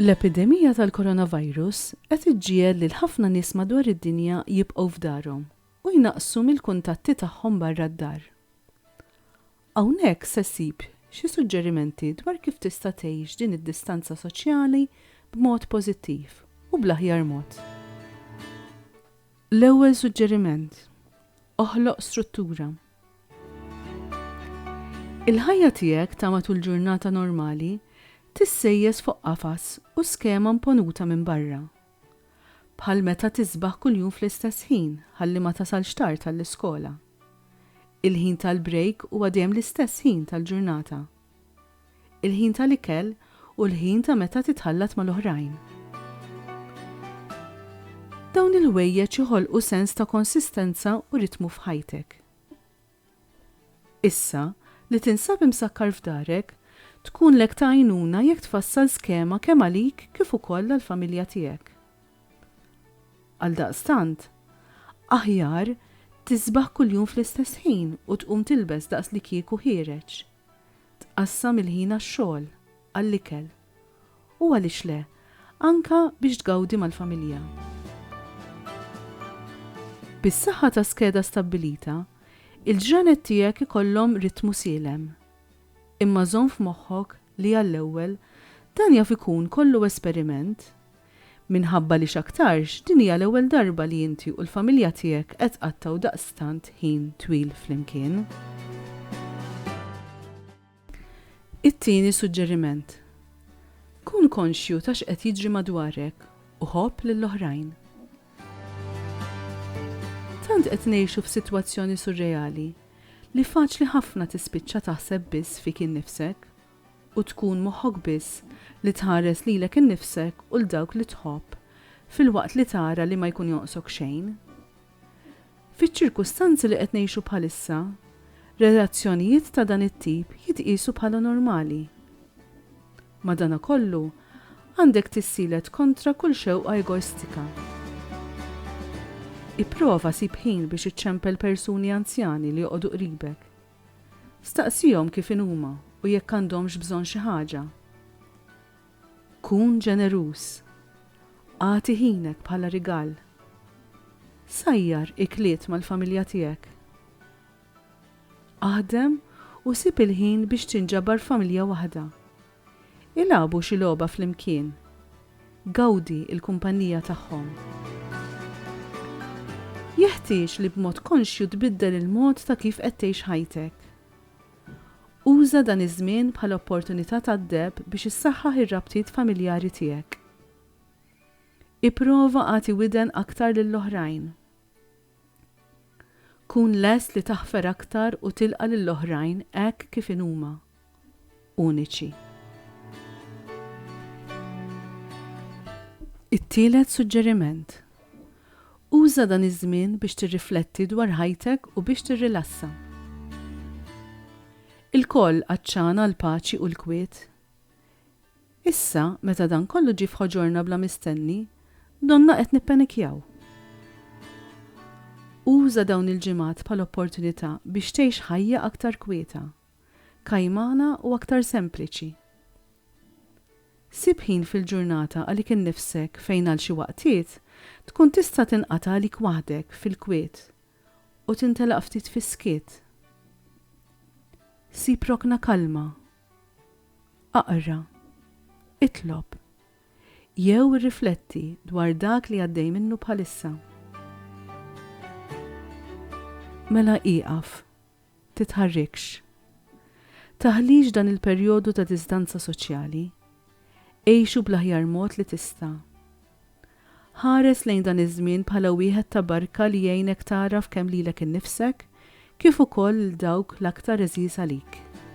L-epidemija tal-coronavirus qed iġġiegħel lil ħafna nies madwar id-dinja jibqgħu f'darhom u jnaqqsu mill-kuntatti tagħhom barra d-dar. Hawnhekk se ssib xi suġġerimenti dwar kif tista' tgħix din id-distanza soċjali b'mod pożittiv u bl-aħjar mod. L-ewwel suġġeriment, Oħloq struttura. Il-ħajja tiegħek ta' matul ġurnata normali tissejjes fuq qafas u skema mponuta minn barra, Bħal meta tisbaħ kuljum fl-istess ħin ħalli ma tasalx tard għall-iskola. Il-ħin tal-brejk huwa dejjem l-istess ħin tal-ġurnata. Il-ħin tal-ikel hu l-ħin ta' meta titħallat mal-oħrajn. Dawn il-ħwejjeġ iħolqu sens ta' konsistenza u ritmu f'ħajtek. Issa, li tinsab imsakkar f'darek, tkunlek ta' għajnuna jekk tfassal skema kemm għalik kif ukoll għall-familja tiegħek. Għaldaqstant, aħjar tisbaħ kuljum fl-istess ħin u tqum tilbes daqslikieku ħiereġ. Tqassam il-ħin għax-xogħol, għall-ikel, U għaliex le, anke biex tgawdi mal-familja. Bis-saħħa ta' skeda stabbilita, il-ġranet tiegħek ikollhom ritmu sielem. Imma żomm f'moħħok li għall-ewwel, dan jaf ikun kollu esperiment. Minħabba li x'aktarx din hija l-ewwel darba li inti u l-familja tiegħek qed tqattgħu daqstant ħin twil flimkien. It-tieni suġġeriment, Kun konxju ta' x'qed jiġri madwarek u ħobb lill-oħrajn. Tant qed ngħixu f'sitwazzjoni surreali li faċli ħafna tispiċċa taħseb biss fik innifsek u tkun moħħok biss li tħares lilek innifsek u 'l dawk li tħobb filwaqt li tara li ma jkun jonqsok xejn. Fiċ-ċirkustanzi li qed ngħixu bħalissa, relazzjonijiet ta' dan it-tip jitqiesu bħala normali. Madanakollu, għandek tissielet kontra kull xewqa egoistika. Ipprova sib ħin biex iċċempel persuni anzjani li joqogħdu qribek. Staqsihom kif inhuma u jekk għandhomx bżonn xi ħaġa. Kun ġeneruż. Agħti ħinek bħala rigal. Sajjar ikliet mal-familja tiegħek. Aħdem u sib il-ħin biex tinġabar familja waħda. Ilagħbu xi logħba flimkien. Gawdi l-kumpanija tagħhom. Jeħtieġ li b'mod konxju tbiddel il-mod ta' kif qed tgħix ħajtek. Uża dan iż-żmien bħala opportunità tad-deheb biex issaħħaħ ir-rabtiet familjari tiegħek. Ipprova agħti widen aktar lill-oħrajn. Kun lest li taħfer aktar u tilqa' lill-oħrajn hekk kif inhuma, uniċi. It-tielet suġġeriment, Uża dan iż-żmien biex tirrifletti dwar ħajtek u biex tirrilassa. Ilkoll għatxana għall-paċi u l-kwiet. Issa, meta dan kollu ġie f'ħoġorna bla mistenni, donnha qed nippenikjaw. Uża dawn il-ġimgħat bħala opportunità biex tgħix ħajja aktar kwieta. kajmana u aktar sempliċi. Sib ħin fil-ġurnata għalik innifsek fejn għal xi waqtiet tkun tista' tinqata' għalik waħdek fil-kwiet u tintelaq ftit fis-skiet. Sib rokna kalma. Aqra. Itlob. Jew irrifletti dwar dak li għaddej minnu bħalissa. Mela ieqaf Titħarrikx. Taħlix dan il-perjodu ta' diżdanza soċjali. Għixu bl-aħjar mod li tista'. Ħares lejn dan iż-żmien bħala wieħed ta' barka li jgħinek tagħraf kemm lilek innifsek kif ukoll lil dawk l-aktar għeżież għalik.